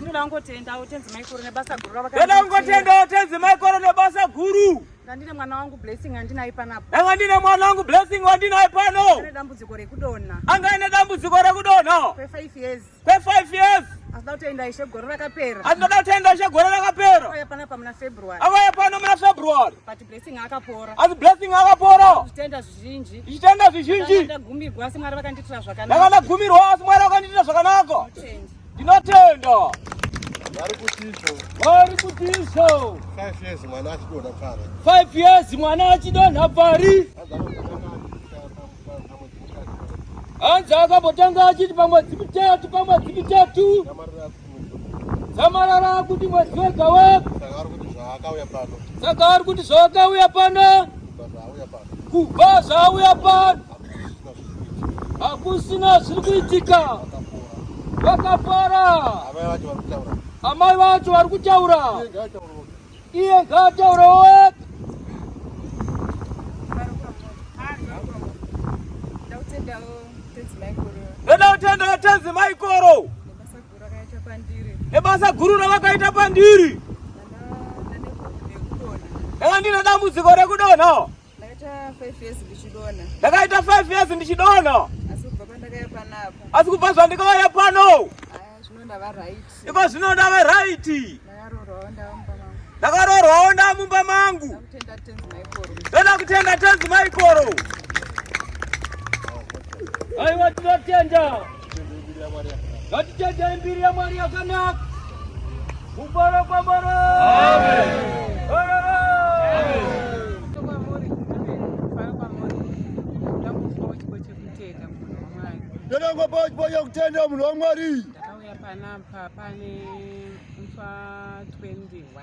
Ndoda kungotendawo tenzi maikoro nebasa guru ravaka. Ndoda kungotendawo tenzi maikoro nebasa guru. Ndandine mwana wangu blessing andinaye panapo. Ndanga ndine mwana wangu blessing wandinaye pano. Ane dambudziko rekudonha. Anga ane dambudziko rekudonha. Kwe 5 years. Kwe 5 years. Asida kutenda ishe gore rakapera. Asida kutenda ishe gore rakapera. Auya pana pamuna February. Auya pano muna February. But blessing akapora. Asi blessing akapora. Zvitenda zvizhinji. Zvitenda zvizhinji. Ndakagumirwa asi Mwari vakanditira zvakanaka. Ndakagumirwa asi Mwari vakanditira zvakanaka. Change. Ndinotenda. Vari kutiso. Vari kutiso. 5 years mwana achidonha pari. 5 years mwana achidonha pari. Hanzi akambotanga achiti pamwedzi mitatu pamwedzi mitatu. Zamarara kuti mwedzi wega wega. Saka ari kuti zvaakauya pano. Saka ari kuti zvaakauya pano. Kubva zvaauya pano. hakusina zviri kuitika vakapara amai vacho vari kutaura iye ngaataura wega ndoda kutenda vatenzi maikoro nebasa guru ravakaita pandiri aa ndine dambudziko rekudonha Ndakaita 5 years ndichidona. Ndakaita 5 years ndichidona. Asi kubva pandakaya panapo. Asi kubva zvandikauya pano. Aya zvino ndava right. Iko zvino ndava right. Ndakarorwawo ndava mumba mangu. Ndakarorwawo ndava mumba mangu. Ndakutenda tenzi maikoro. Ndoda kutenda tenzi maikoro. Aiwa tinotenda. Ngatitendei mbiri yaMwari yakanaka. Mubara kwa mara. Amen. Ndonangwa pachi pachi yakutenda munhu waMwari. Ndakauya panapa pane mfa 21.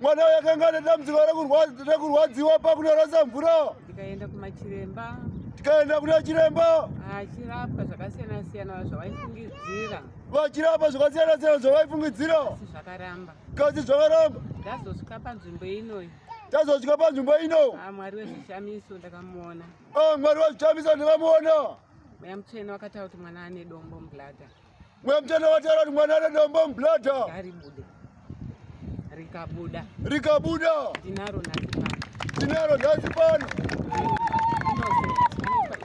mwana uyo akanga ane dambudziko rekurwadziwa pakunorasa mvura tikaenda kumachiremba tikaenda kuna chiremba achirapwa zvakasiyana siyana zvavaifungidzira vachirapa zvakasiyana siyana zvavaifungidzira asi zvakaramba kasi zvakaramba ndazosvika panzvimbo inoyi tazosvika panzvimbo ino ah, mwari wezvishamiso ndakamuona ah, mwari wezvishamiso ndakamuona mweya mutsvene wakataura kuti mwana ane dombo mubladha Mwe mtana watara ni mwana rada mba mblada. Gari bude. Rika buda. Rika buda. Dinaro na zipana. Dinaro na zipana. Innocent. Innocent.